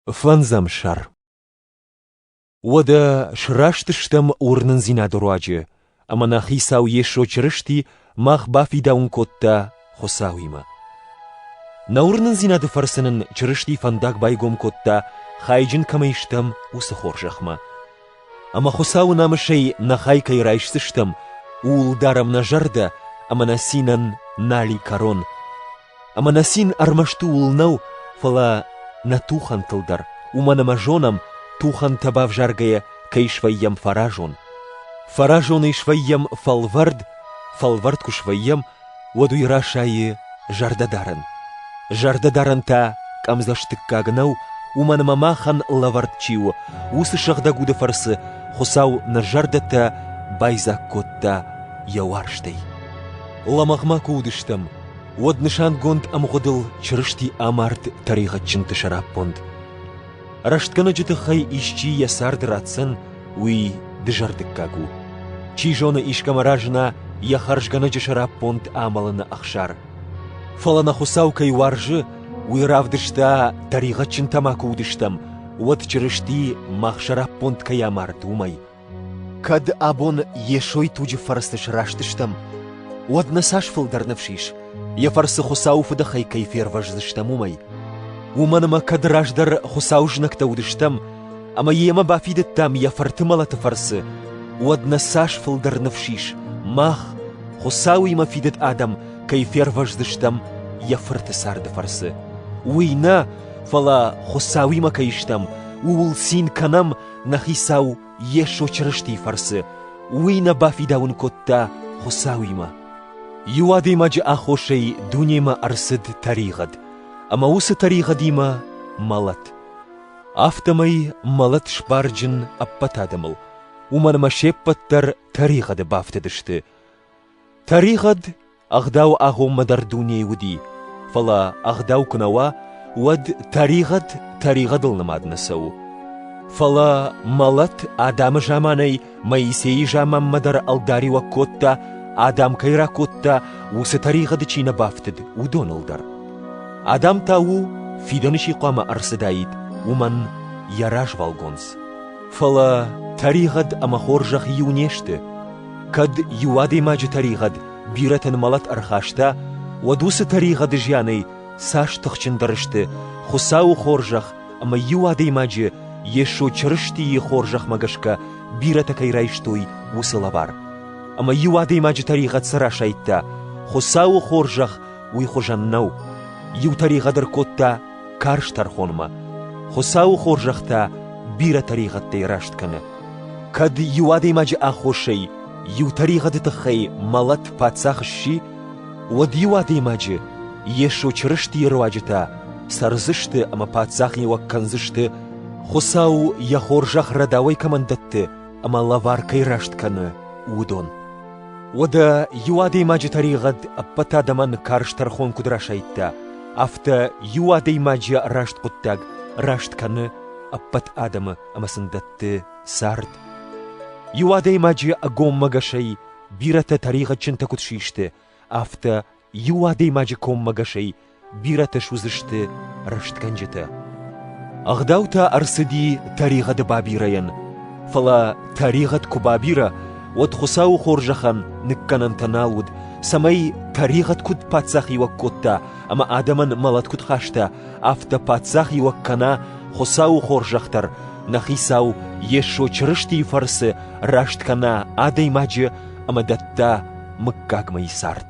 Фӕндзӕм сӕр. Уӕдӕ срастыстӕм уырнындзинады руаджы, ӕмӕ нӕ Хицау Йесо Чырысти мах бафидауын кодта Хуыцауимӕ. Нӕ уырнындзинады фӕрцы нын Чырысти фӕндаг байгом кодта, хайджын кӕмӕй стӕм, уыцы хорзӕхмӕ. Ӕмӕ Хуыцауы намысӕй нӕ хай кӕй райсдзыстӕм, ууыл дарӕм нӕ зӕрдӕ ӕмӕ нӕ цинӕн нали кӕрон, Ӕмӕ нӕ цин ӕрмӕст ууыл нӕу, фӕлӕ нӕ тухӕнтыл дӕр, уымӕн ӕмӕ зонӕм, тухӕнтӕ бавзаргӕйӕ кӕй свӕййӕм фӕразон. Фӕразонӕй свӕййӕм фӕлвӕрд, фӕлвӕрд куы свӕййӕм, уӕд уый расайы зӕрдӕдарӕн. Зӕрдӕдарӕн та къӕмдзӕстыггаг нӕу, уымӕн ӕмӕ махӕн лӕвӕрд чи у, уыцы сыгъдӕг уды фӕрцы Хуыцау нӕ зӕрдӕтӕ байдзаг кодта йӕ уарзтӕй. Лӕмӕгъ ма куы уыдыстӕм, уӕд нысангонд ӕмгъуыдыл Чырысти амард тӕригъӕдджынты сӕраппонд. Рӕстгӕнӕджы тыххӕй исчи йӕ цард ратдзӕн, уый дызӕрдыггаг у. Чи зоны, искӕмӕ разына йӕ хӕрзгӕнӕджы сӕраппонд амӕлыны ӕхсар. Фӕлӕ нӕ Хуыцау кӕй уарзы, уый равдыста, тӕригъӕдджын тамаку уыдыстӕм, уӕд Чырысти мах сӕраппонд кӕй амард, уымӕй. Кӕд абон Йесойы туджы фӕрцы срастыстӕм, уӕд нӕ цас фылдӕр ныфс ис, йӕ фӕрцы Хуыцауы фыдыхай кӕй фервӕздзыстӕм, уымӕй. Уымӕн ӕмӕ кӕд раздӕр Хуыцауы знӕгтӕ уыдыстӕм ӕмӕ йемӕ бафидыдтам йӕ Фырты мӕлӕты фӕрцы, уӕд нӕ цас фылдӕр ныфс ис, мах, Хуыцауимӕ фидыд адӕм, кӕй фервӕздзыстӕм йӕ Фырты царды фӕрцы. Уый нӕ, фӕлӕ Хуыцауимӕ кӕй стӕм, ууыл цин кӕнӕм нӕ Хицау Йесо Чырыстийы фӕрцы уый нӕ бафидауын кодта Хуыцауимӕ. Иу адӕймаджы аххосӕй дунемӕ ӕрцыд тӕригъӕд, ӕмӕ уыцы тӕригъӕдимӕ мӕлӕт. Афтӕмӕй мӕлӕт сбарджын ӕппӕт адӕмыл, уымӕн ӕмӕ се ппӕт дӕр тӕригъӕды бафтыдысты. Тӕригъӕд Ӕгъдау агъоммӕ дӕр дунейы уыди, фӕлӕ ӕгъдау куы нӕ уа, уӕд тӕригъӕд тӕригъӕдыл нымад нӕ цӕуы. Фӕлӕ мӕлӕт адӕмы заманӕй Моисейы заманмӕ дӕр ӕлдариуӕг кодта, адӕм кӕй ракодта, уыцы тӕригъӕды чи нӕ бафтыд, уыдоныл дӕр. Адам та у, фидӕны чи хъуамӕ ӕрцыдаид, уымӕн йӕ развӕлгонц. Фӕлӕ тӕригъӕд ӕмӕ хорзӕх иу не сты, Кӕд иу адӕймаджы тӕригъӕд бирӕтӕн мӕлӕт ӕрхаста, уӕд уыцы тӕригъӕды зианӕй цас тыхджындӕр сты Хуыцауы хорзӕх ӕмӕ иу адӕймаджы Йесо Чырыстийы хорзӕхмӕ гӕсгӕ бирӕтӕ кӕй райстой уыцы лӕвар. Ӕмӕ иу адӕймаджы тӕригъӕд цы расайдта, Хуыцауы хорзӕх уый хуызӕн нӕу. Иу тӕригъӕд ӕркодта карз тӕрхонмӕ. Хуыцауы хорзӕхтӕ бирӕ тӕригъӕдтӕй раст кӕны. Кӕд иу адӕймаджы аххосӕй иу тӕригъӕды тыххӕй мӕлӕт паддзах сси, уӕд иу адӕймаджы Йесо Чырыстийы руаджытӕ цӕрдзысты ӕмӕ паддзахиуӕг кӕндзысты, Хуыцау йӕ хорзӕх рӕдауӕй кӕмӕн дӕтты ӕмӕ лӕвар кӕй раст кӕны, уыдон. Уӕдӕ иу адӕймаджы тӕригъӕд ӕппӕт адӕмӕн карз тӕрхон куыд расайдта, афтӕ иу адӕймаджы раст хъуыддаг раст кӕны ӕппӕт адӕмы ӕмӕ сын дӕтты цард. Иу адӕймаджы ӕгоммӕгӕсӕй бирӕтӕ тӕригъӕдджынтӕ куыд систы, афтӕ иу адӕймаджы коммӕгӕсӕй бирӕтӕ суыдзысты рӕстгӕнджытӕ. Ӕгъдау та ӕрцыди тӕригъӕды бабирӕйӕн, фӕлӕ тӕригъӕд куы бабирӕ, уӕд Хуыцауы хорзӕхӕн ныккӕнӕнтӕ нал уыд, цӕмӕй тӕригъӕд куыд паддзахиуӕг кодта ӕмӕ адӕмӕн мӕлӕт куыд хаста, афтӕ паддзахиуӕг кӕна Хуыцауы хорзӕх дӕр, нӕ Хицау Йесо Чырыстийы фӕрцы раст кӕна адӕймаджы ӕмӕ дӕтта мыггагмӕ и цард.